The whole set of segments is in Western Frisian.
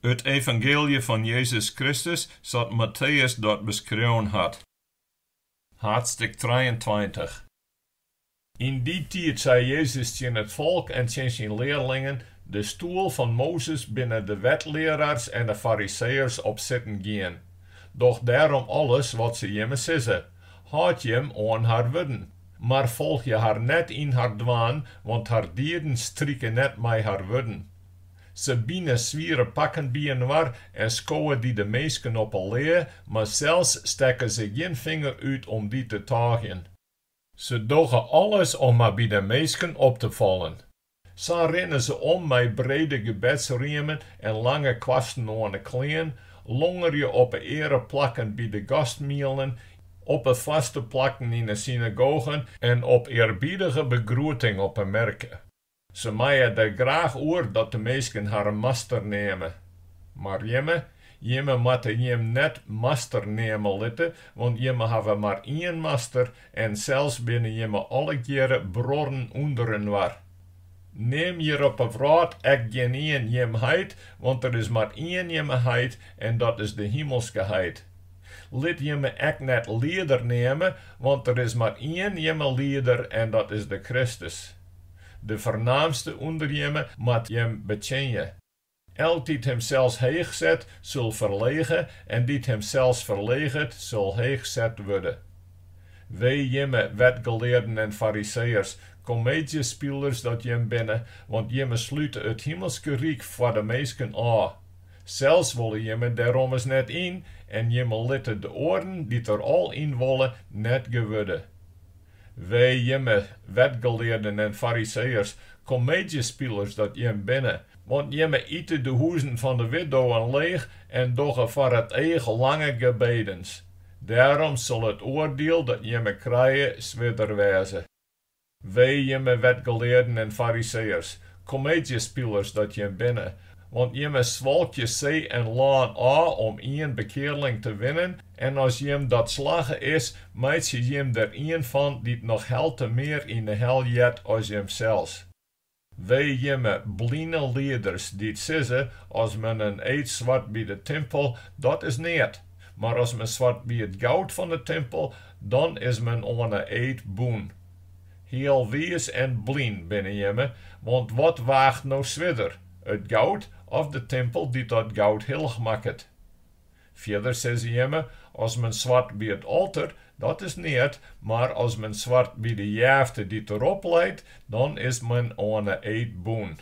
It evangeelje fan Jezus Kristus sa't Matteus dat beskreaun hat. Haadstik trijeentweintich. Yn dy tiid sei Jezus tsjin it folk en tsjin syn learlingen, De stoel fan Mozes binne de wetlearaars en de Fariseeërs op sitten gien. Doch dêrom alles wat se jimme sizze. Hâld jim oan har wurden, mar folgje har net yn har dwaan, want har dieden strike net mei har wurden. Se bine swiere pakken byinoar en skowe dy de minsken op 'e lea, mar sels stekke se gjin finger út om dy te tôgjen. Se dogge alles om mar by de minsken op te fallen. Sa rinne se om mei brede gebedsriemen en lange kwasten oan 'e klean, longerje op 'e eareplakken by de gastmielen, op 'e foarste plakken yn 'e synagogen en op earbiedige begroeting op 'e merke. Se meie der graach oer dat de minsken harren master neame. Mar jimme? Jimme moatte jim net master neame litte, want jimme hawwe mar ien master En sels binne jimme allegearre bruorren ûnderinoar. Neam hjir op 'e wrâld ek gjinien jim heit, want der is mar ien jimme heit, en dat is de himelske heit. Lit jimme ek net lieder neame, want der is mar ien jimme lieder, en dat is de Kristus. De fernaamste ûnder jimme moat jim betsjinje. Elk dy't himsels heech set, sil ferlege, en dy't himsels ferleget, sil heech set wurde. Wee jimme, wetgelearden en Fariseeërs, komeedzjespilers dat jim binne, want jimme slute it Himelske Ryk foar de minsken ôf. Sels wolle jimme dêr ommers net yn, en jimme litte de oaren dy't der al yn wolle, net gewurde. Wee jimme, wetgelearden en fariseeërs, komeedzjespilers dat jim binne! Want jimme ite de huzen fan de widdowen leech en dogge foar it each lange gebedens. Dêrom sil it oardiel dat jimme krije swierder wêze. Wee jimme, wetgelearden en fariseeërs, komeedzjespilers dat jim binne! Want jimme swalkje see en lân ôf om ien bekearling te winnen, En as jim dat slagge is, meitsje jim der ien fan dy't noch helte mear yn 'e hel heart as jimsels. Wee jimme bline lieders dy't sizze, As men in eed swart by de timpel, dat is neat, mar as men swart by it goud fan 'e timpel, dan is men oan 'e eed bûn. Healwiis en blyn binne jimme, want wat waacht no swierder, it goud of de timpel dy't dat goud hillich makket? Fierder sizze jimme, As men swart by it alter, dat is neat, mar as men swart by de jefte dy't derop leit, dan is men oan 'e eed bûn.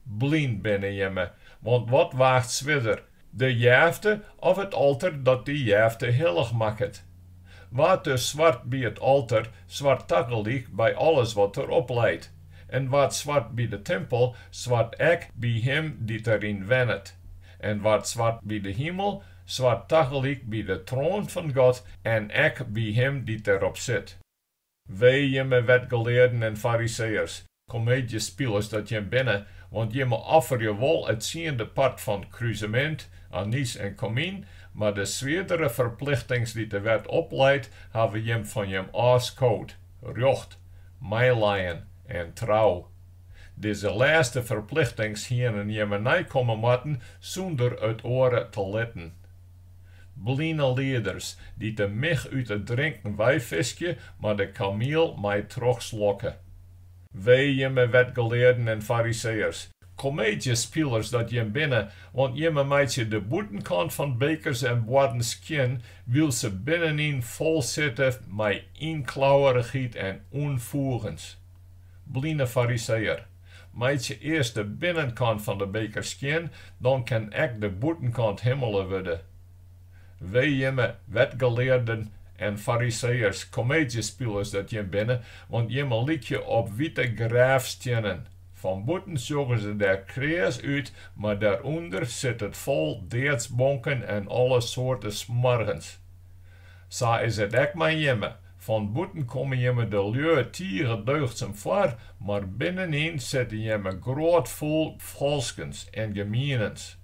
Blyn binne jimme, want wat waacht swierder, de jefte of it alter dat dy jefte hillich makket? Wa't dus swart by it alter, swart tagelyk by alles wat derop leit, en wa't swart by de timpel, swart ek by him dy't deryn wennet. en wa't swart by de himel, swart tagelyk by de troan fan God en ek by him dy't derop sit. Wee jimme wetgelearden en Fariseeërs, komeedzjespilers dat jim binne, want jimme offerje wol it tsiende part fan kruzemint, anys en komyn, mar de swierdere ferplichtings dy't de wet opleit, hawwe jim fan jim ôfskood, rjocht, meileien en trou. Dizze lêste ferplichtings hienen jimme neikomme moatten sûnder it oare te litten. Bline lieders dy't de mich út it drinken weifiskje, mar de kamiel mei trochslokke. Wee jimme wetgelearden en fariseeërs, komeedzjespilers dat jim binne, want jimme meitsje de bûtenkant fan bekers en boarden skjin, wylst se binnenyn fol sitte mei ynklauwerichheid en ûnfoegens. Bline Fariseeër, meitsje earst de binnenkant fan de beker skjin, dan kin ek de bûtenkant himmele wurde. Wee jimme wetgelearden en Fariseeërs, komeedzjespilers dat jim binne, want jimme lykje op wite graafstiennen. Fan bûten sjogge se der kreas út, mar dêrûnder sit it fol deadsbonken en alle soarte smoargens. Sa is it ek mei jimme, Fan bûten komme jimme de lju tige deugdsum foar, mar binnenyn sitte jimme grôtfol falskens en gemienens.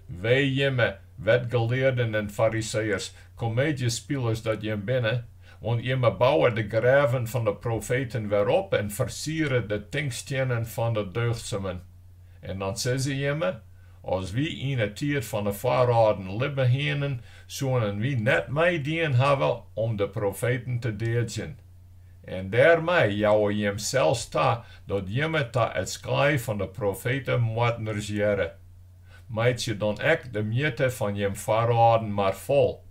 Wee jimme, wetgelearden en fariseeërs, komeedzjespilers dat jim binne, want jimme bouwe de grêven fan de profeten wer op en fersiere de tinkstiennen fan de deugdsumen. En dan sizze jimme, As wy yn 'e tiid fan 'e foarâlden libbe hienen, soenen wy net meidien hawwe om de profeten te deadzjen. En dêrmei jouwe jim sels ta dat jimme ta it skaai fan 'e profetemoardners hearre. Meitsje dan ek de mjitte fan jim foarâlden mar fol.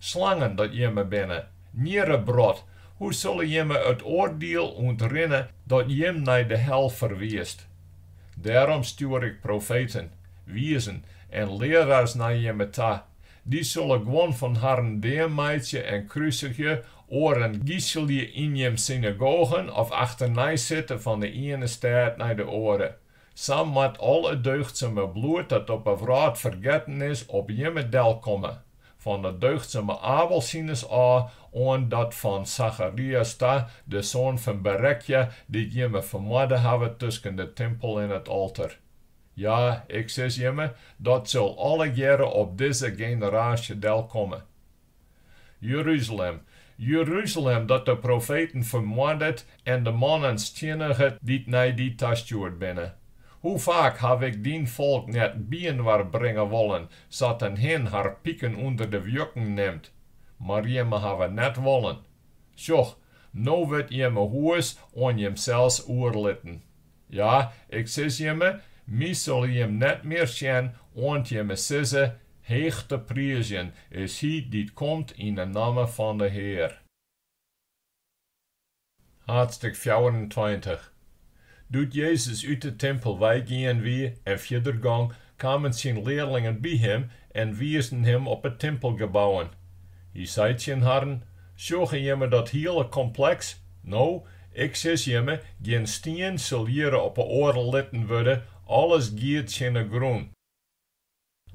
Slangen dat jimme binne, njirrebrod, hoe sille jimme it oardiel ûntrinne dat jim nei de hel ferwiist? Dêrom stjoer ik profeten, wiezen en learaars nei jimme ta, dy sille guon fan harren deameitsje en krusigje, oaren giselje yn jim synagogen of achternei sitte fan 'e iene stêd nei de oare. Sa moat al it deugdsume bloed dat op 'e wrâld fergetten is, op jimme delkomme, Fan 'e deugdsume Abel sines ôf oant dat fan Sacharias ta, de soan fan Berekja, dy't jimme fermoarde hawwe tusken de timpel en it alter. Ja, Ik sis jimme, dat sil allegearre op dizze generaasje delkomme. Jeruzalem, Jeruzalem, dat de profeten fermoardet en de mannen stienniget dy't nei dy tastjoerd binne! Hoe faak haw Ik dyn folk net byinoar bringe wollen, Sa't in hin har piken ûnder de wjukken nimt, mar jimme hawwe net wollen. Sjoch, no wurdt jimme hûs oan jimsels oerlitten. Ja, ik sis jimme, my sille jim net mear sjen, oant jimme sizze, Heech te priizjen is Hy dy't komt yn 'e namme fan 'e Hear. Haadstêk fjouwerentweintich. Doe't Jezus út 'e timpel weigien wie en fierder gong, kamen syn learlingen by him en wiisden him op 'e timpelgebouwen. Hy sei tsjin harren, Sjogge jimme dat hiele kompleks? No, ik sis jimme, gjin stien sil hjir op 'e oare litten wurde, alles giet tsjin 'e grûn.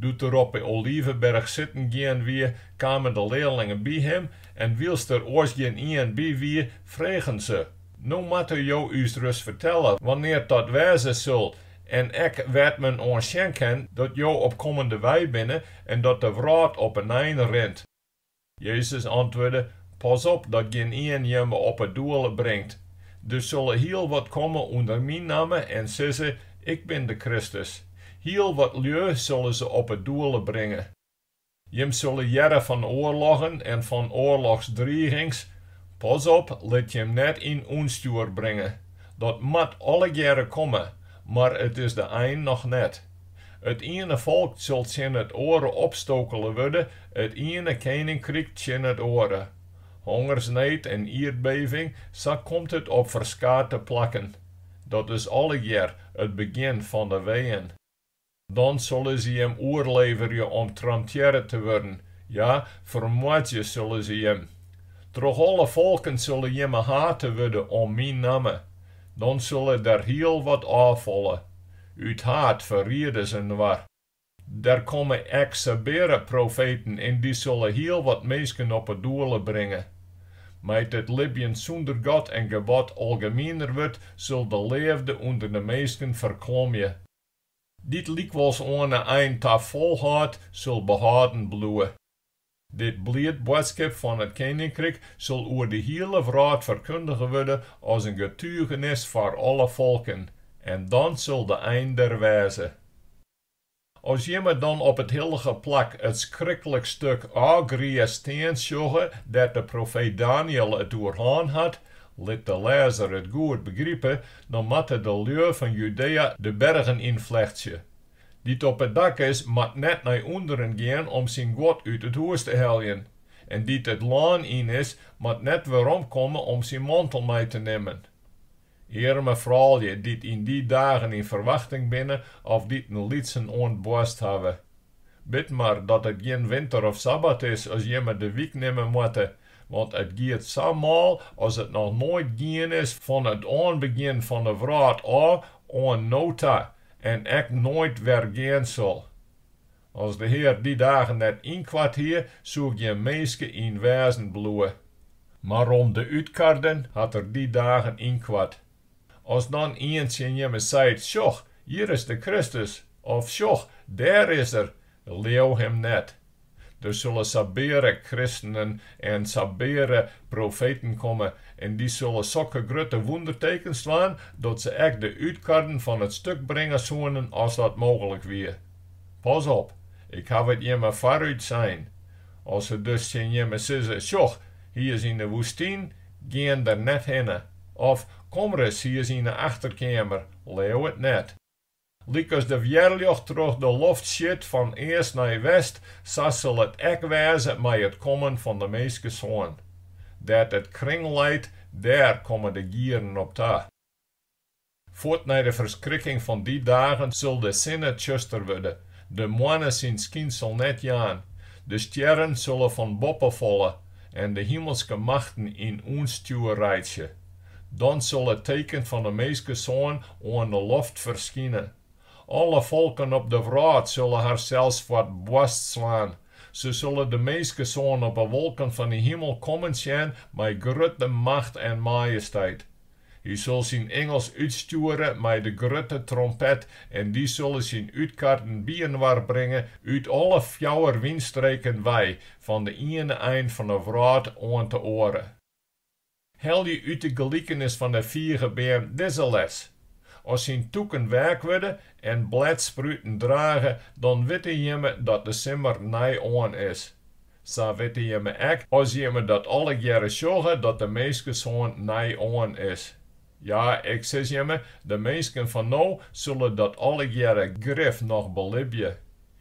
Doe't er op 'e Oliveberch sitten gien wie, kamen de learlingen by him en wylst der oars gjin ien by wie, fregen se, No moatte jo ús ris fertelle wannear't dat wêze sil en ek wêr't men oan sjen kin dat jo op kommende wei binne en dat de wrâld op in ein rint. Jezus antwurde, Pas op dat gjin ien jimme op 'e doele bringt. Der sille hiel wat komme ûnder myn namme en sizze, Ik bin de Kristus. Hiel wat lju sille se op 'e doele bringe. Jim sille hearre fan oarloggen en fan oarlochsdrigings. Pas op, lit jim net yn ûnstjoer bringe. Dat moat allegearre komme, mar it is de ein noch net. It iene folk sil tsjin it oare opstokele wurde, it iene keninkryk tsjin it oare. Hongersneed en ierdbeving, sa komt it op ferskate plakken. Dat is allegear it begjin fan de weeën. Dan sille se jim oerleverje om tramtearre te wurden, ja, fermoardzje sille se jim. Troch alle folken sille jimme hate wurde om myn namme. Dan sille der hiel wat ôffalle. Ut haat ferriede se inoar. Der komme ek sabeare profeten en dy sulle hiel wat minsken op 'e doele bringe. Mei't it libjen sûnder God en gebod algemiener wurdt, sil de leafde ûnder de minsken ferklommje. Dy't lykwols oan 'e ein ta folhâldt, sil behâlden bliuwe. Dit bliid boadskip fan it Keninkryk sil oer de hiele wrâld ferkundige wurde as in getugenis foar alle folken, en dan sil de ein der wêze. As jimme dan op it hillige plak it skriklik stuk ôfgrie stean sjogge dêr't de profeet Daniël it oer hân hat, lit de lêzer it goed begripe, dan moatte de lju fan Judea de bergen ynflechtsje, Dy't op it dak is, moat net nei ûnderen gean om syn guod út it hûs te heljen, en dy't it lân yn is, moat net werom komme om syn mantel mei te nimmen. Earme froulju, dy't yn dy dagen yn ferwachting binne of dy't in lytsen oan 't boarst hawwe! Bid mar dat it gjin winter of sabbat is as jimme de wyk nimme moatte, want it giet sa mâl as it noch noait gien is fan it oanbegjin fan 'e wrâld ôf oant no ta, en ek noait wer gean sil. As de Hear dy dagen net ynkoart hie, soe gjin minske yn wêzen bliuwe. Mar om de útkarden hat Er dy dagen ynkoart. As dan ien tsjin jimme seit, Sjoch, hjir is de Kristus! of Sjoch, dêr is Er! leau him net, Der sulle sabeare kristenen en sabeare profeten komme, en dy sulle sokke grutte wûndertekens dwaan, dat se ek de útkarden fan it stuk bringe soenen as dat mooglik wie. Pas op, ik haw it jimme foarút sein. As se dus tsjin jimme sizze, Sjoch, hy is yn 'e woestyn, gean der net hinne. Of, Kom ris, hy is yn 'e achterkeamer, leau it net. Lykas de wjerljocht troch de loft sjit fan east nei west, sa sil it ek wêze mei it kommen fan de Minskesoan. Dêr't it kring leit, dêr komme de gieren op ta. Fuort nei de ferskrikking fan dy dagen sil de sinne tsjuster wurde, de moanne syn skynsel net jaan, de stjerren sille fan boppe falle en de himelske machten yn ûnstjoer reitsje. Dan sil it teken fan 'e Minskesoan oan 'e loft ferskine. Alle folken op de wrâld sille harsels foar 't boarst slaan. Se sille de Minskesoan op 'e wolken fan 'e himel kommen sjen mei grutte macht en majesteit. Hy sil syn ingels útstjoere mei de grutte trompet en dy sille syn útkarden byinoar bringe út alle fjouwer wynstreken wei, fan 'e iene ein fan 'e wrâld oant 'e oare. Helje út de gelikenis fan 'e figebeam dizze les, As syn tûken weak wurde en bledspruten drage, dan witte jimme dat de simmer nei oan is. Sa witte jimme ek, as jimme dat allegearre sjogge, dat de Minskesoan nei oan is. Ja, Ik sis jimme, de minsken fan no sulle dat allegearre grif noch belibje.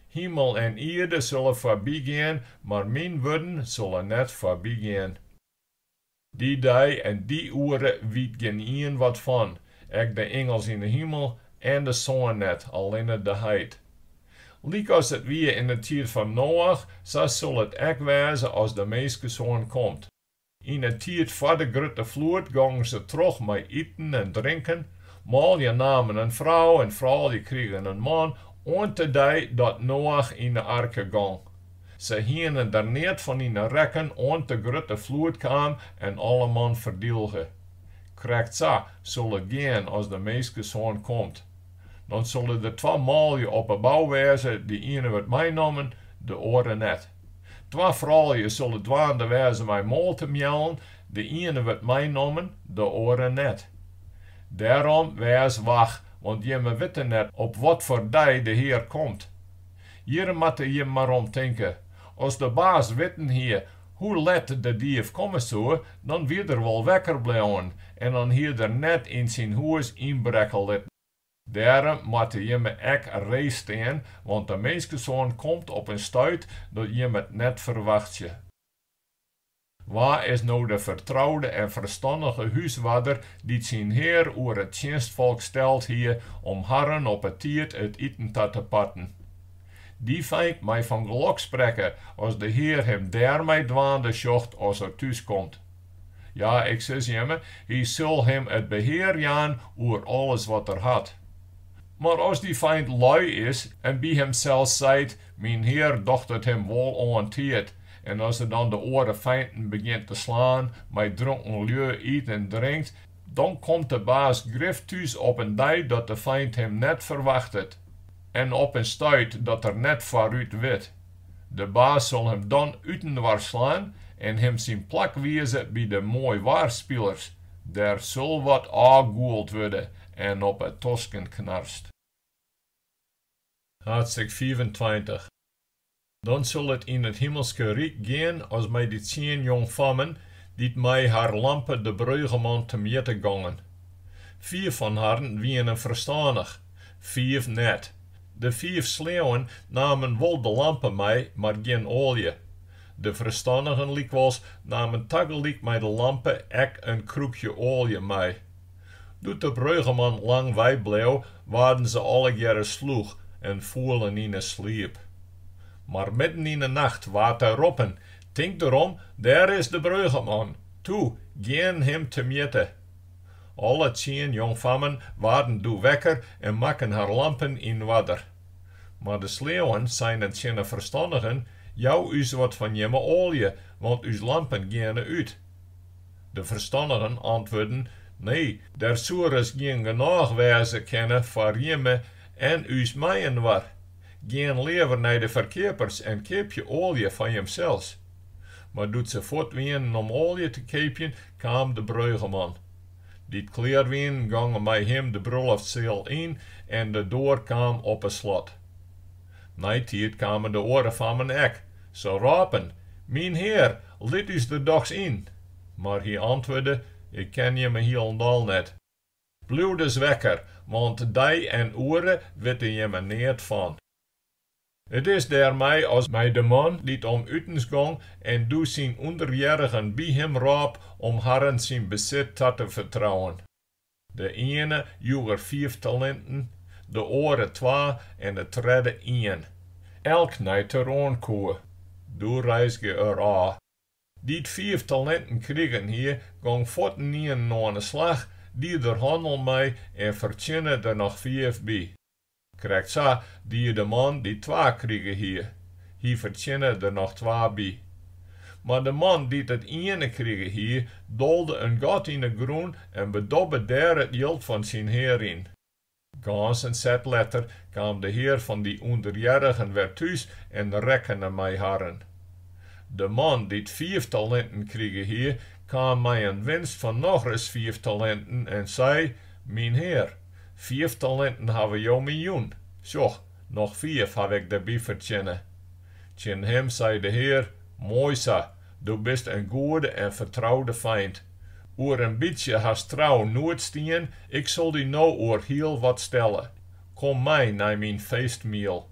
Himel en ierde sulle foarbygean, mar myn wurden sulle net foarbygean. Dy dei en dy oere wyt gjinien wat fan, ek de ingels yn 'e himel en de soan net, allinne de heit. Lykas it wie yn 'e tiid fan Noach, sa sil it ek wêze as de Minskesoan komt. Yn 'e tiid foar de grutte floed gongen se troch mei iten en drinken, manlju namen in frou en froulju krigen in man, oant de dei dat Noach yn 'e arke gong. Se hienen der neat fan yn 'e rekken oant de grutte floed kaam en alleman ferdylge. Krekt sa sil it gean as de Minskesoan komt. Dan sille der twa manlju op 'e bou wêze, de iene wurdt meinommen, de oare net. Twa froulju sille dwaande wêze mei moal te mjellen, de iene wurdt meinommen, de oare net. Dêrom, wês wach, want jimme witte net op watfoar dei de Hear komt. Hjir moatte jim mar om tinke. As de baas witten hie hoe let de dief komme soe, dan wie er wol wekker bleaun en dan hie er net yn syn hûs ynbrekke litten. Dêrom moatte jimme ek ree stean, want de Minskesoan komt op in stuit dat jimme it net ferwachtsje. Wa is no de fertroude en ferstannige húswarder dy't syn hear oer it tsjinstfolk steld hie om harren op 'e tiid it iten ta te parten? Dy feint mei fan gelok sprekke as de Hear him dêrmei dwaande sjocht as er thús komt. Ja, ik sis jimme, hy sil him it behear jaan oer alles wat er hat. Mar as dy feint loai is en by himsels seit, Myn Hear docht it him wol oan tiid, En as er dan de oare feinten begjint te slaan, mei dronken lju yt en drinkt, dan komt de baas grif thús op in dei dat de feint him net ferwachtet en op in stuit dat er net foarút wit. De baas sil him dan útinoar slaan en him syn plak wize by de moaiwaarspilers, dêr sil wat ôfgûld wurde en op 'e tosken knarst. Haadstik fiifentweintich. Dan sil it yn it Himmelske Ryk gean as mei dy tsien jongfammen, dy't mei har lampe de Breugeman temjitte gongen. Fiif fan harren wienen ferstannich, fiif net. De fiif sleauen namen wol de lampe mei, mar gjin oalje. De ferstannigen lykwols namen tagelyk mei de lampe ek in krûkje oalje mei. Doe't de breugeman lang wei bleau, waarden se allegearre slûch en foelen yn 'e sliep. Mar midden yn 'e nacht waard der roppen, Tink derom, dêr is de breugeman! Toe, gean him temjitte! Alle tsien jongfammen waarden doe wekker en makken har lampen yn oarder. Mar de sleauwen seinen tsjin 'e ferstannigen, Jou ús wat fan jimme oalje, want ús lampen geane út. De ferstannigen antwurden, Nee, der soe ris gjin genôch wêze kinne foar jimme en ús mei-inoar. Gean leaver nei de ferkeapers en keapje oalje foar jimsels. Mar doe't se fuort wienen om oalje te keapjen, kaam de breugeman. Dy't klear wienen, gongen mei him de bruloftsseal yn en de doar kaam op 't slot. Neitiid kamen de oare fammen ek. Se rôpen, Myn hear, lit ús der dochs yn! Mar hy antwurde, Ik ken jimme hielendal net. Bliuw dus wekker, want dei en oere witte jimme neat fan. It is dêrmei as mei de man dy't om utens gong en doe syn ûnderhearrigen by him rôp om harren syn besit ta te fertrouwen. De iene joech er fiif talinten, de oare twa en de tredde ien, elk nei't er oan koe. Doe reizgje er ôf. Dy't fiif talinten krigen hie, gong fuortenienen oan 'e slach, die der hannel mei en fertsjinne der noch fiif by. Krekt sa die de man dy't twa krige hie. Hy fertsjinne der noch twa by. Mar de man dy't it iene krige hie, dolde in gat yn 'e grûn en bedobbe dêr it jild fan syn hear yn. Gâns in set letter kaam de hear fan dy ûnderhearrigen wer thús en rekkene mei harren. De man dy't fiif talinten krige hie, kaam mei in winst fan nochris fiif talinten en sei, Myn hear, Fiif talinten hawwe Jo my jûn, sjoch, noch fiif haw ik derby fertsjinne. Tsjin him sei de Hear, Moai sa, do bist in goede en fertroude feint. Oer in bytsje hast trou noed stien, ik sil dy no oer hiel wat stelle. Kom mei nei myn feestmiel.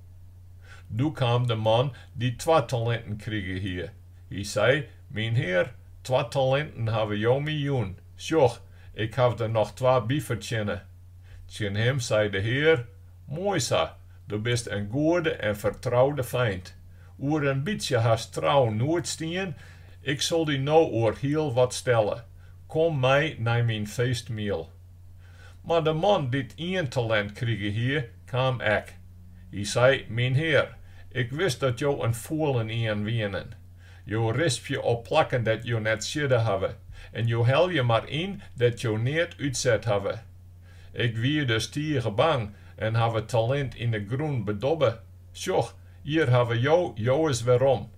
Doe kaam de man dy't twa talinten krige hie. Hy sei, Myn hear, twa talinten hawwe Jo my jûn, sjoch, Ik haw der noch twa by fertsjinne. Tsjin him sei de Hear, Moai sa, do bist in goede en fertroude feint. Oer in bytsje hast trou noed stien, ik sil dy no oer hiel wat stelle. Kom mei nei myn feestmiel. Mar de man dy't ien talint krige hie, kaam ek. Hy sei, Myn hear, ik wist dat jo in fûlenien wienen. Jo rispje op plakken dêr't jo net siedde hawwe en jo helje mar yn dêr't jo neat útset hawwe. Ik wie dus tige bang en haw it talint yn 'e grûn bedobbe, Sjoch, hjir hawwe jo jowes werom.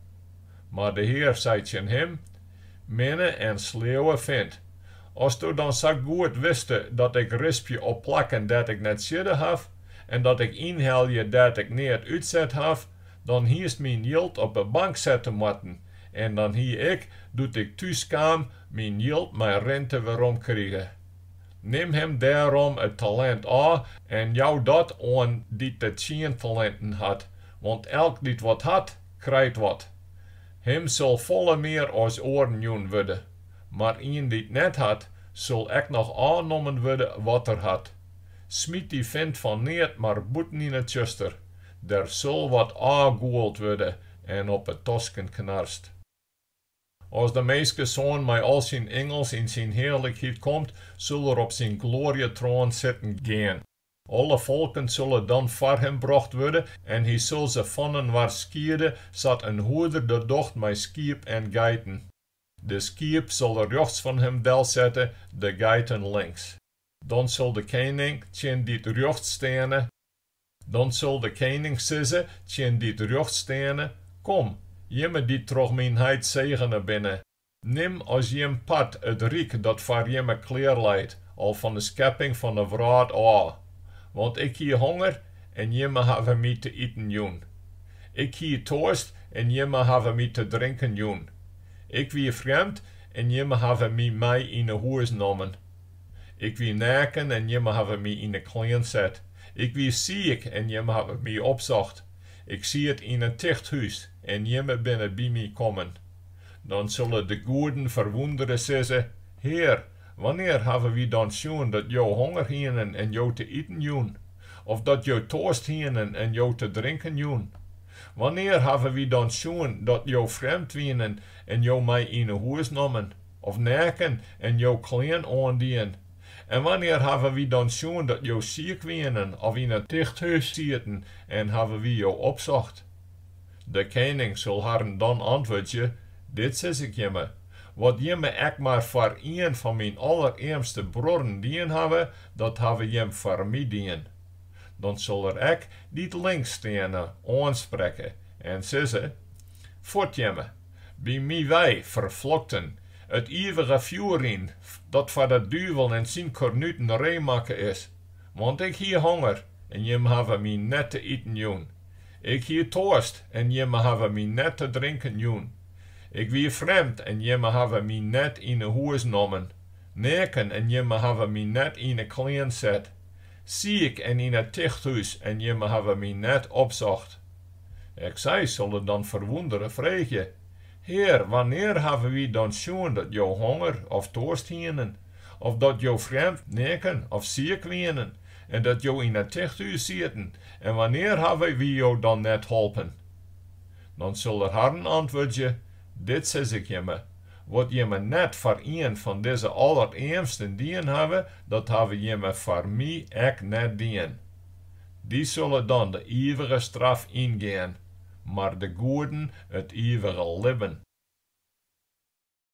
Mar de Hear sei tsjin him, Minne en sleauwe feint, asto dan sa goed wiste dat ik rispje op plakken dêr't ik net siedde haw en dat ik ynhelje dêr't ik neat útset haw, dan hiest myn jild op 'e bank sette moatten en dan hie ik, doe't ik thús kaam, myn jild mei rinte werom krige. Nim him dêrom it talint ôf en jou dat oan dy't de tsien talinten hat, want elk dy't wat hat, krijt wat. Him sil folle mear as oaren jûn wurde, mar ien dy't net hat, sil ek noch ôfnommen wurde wat er hat. Smyt dy fint fan neat mar bûten yn it tsjuster, Der sil wat ôfgûld wurde en op 'e tosken knarst. As de minskesoan mei al syn ingels yn syn hearlikheid komt, sil er op syn gloarjetroan sitten gean. Alle folken sille dan foar him brocht wurde en hy sil se faninoar skiede, sa't in hoeder dat docht mei skiep en geiten. De skiep sil er rjochts fan him delsette, de geiten links. Dan sil de kening tsjin dy't rjochts steane, Dan sil de kening sizze tsjin dy't rjochts steane, Kom, jimme dy't troch myn heit segene binne, nim as jim part it ryk dat foar jimme klear leit al fan de skepping fan de wrâld ôf. Want ik hie honger en jimme hawwe my te iten jûn. Ik hie toarst en jimme hawwe my te drinken jûn. Ik wie frjemd en jimme hawwe my mei yn 'e hûs nommen. Ik wie naken en jimme hawwe my yn 'e klean set. Ik wie siik en jimme hawwe my opsocht. Ik siet yn in tichthûs en jimme binne by my kommen. Dan sille de goeden ferwûndere sizze, Hear, wannear hawwe wy dan sjoen dat jo honger hienen en jo te iten jûn, of dat jo toarst hienen en jo te drinken jûn? Wannear hawwe wy dan sjoen dat jo frjemd wienen en jo mei yn 'e hûs nommen? Of neaken en jo klean oandien? En wannear hawwe wy dan sjoen dat jo siik wienen of yn in tichthûs sieten en hawwe wy jo opsocht? De kening sil harren dan antwurdzje, Dit sis ik jimme, Wat jimme ek mar foar ien fan myn allerearmste bruorren dien hawwe, dat hawwe jimme foar my dien. Dan sil er ek dy't links steane oansprekke en sizze, Fuort jimme! By my wei ferflokten it ivige fjoer yn, dat foar de duvel en syn kornuten ree makke is. Want ik hie honger, en jimme hawwe my net te iten jûn. Ik hie toarst, en jimme hawwe my net te drinken jûn. Ik wie frjemd, en jimme hawwe my net yn 'e hûs nommen. Neaken, en jimme hawwe my net yn 'e klean set. Siik en yn it tichthûs, en jimme hawwe my net opsocht. Ek sy sille dan ferwûndere freegje, Hear, wannear hawwe wy dan sjoen dat Jo honger of toarst hienen, of dat Jo frjemd, neaken of siik wienen, en dat Jo yn in tichthûs sieten, en wannear hawwe wy Jo dan net holpen? Dan sil Er harren antwurdzje, Dit sis Ik jimme, Wat jimme net foar ien fan dizze allerearmsten dien hawwe, dat hawwe jimme foar My ek net dien. Dy sille dan de ivige straf yngean, mar de goeden it ivige libben.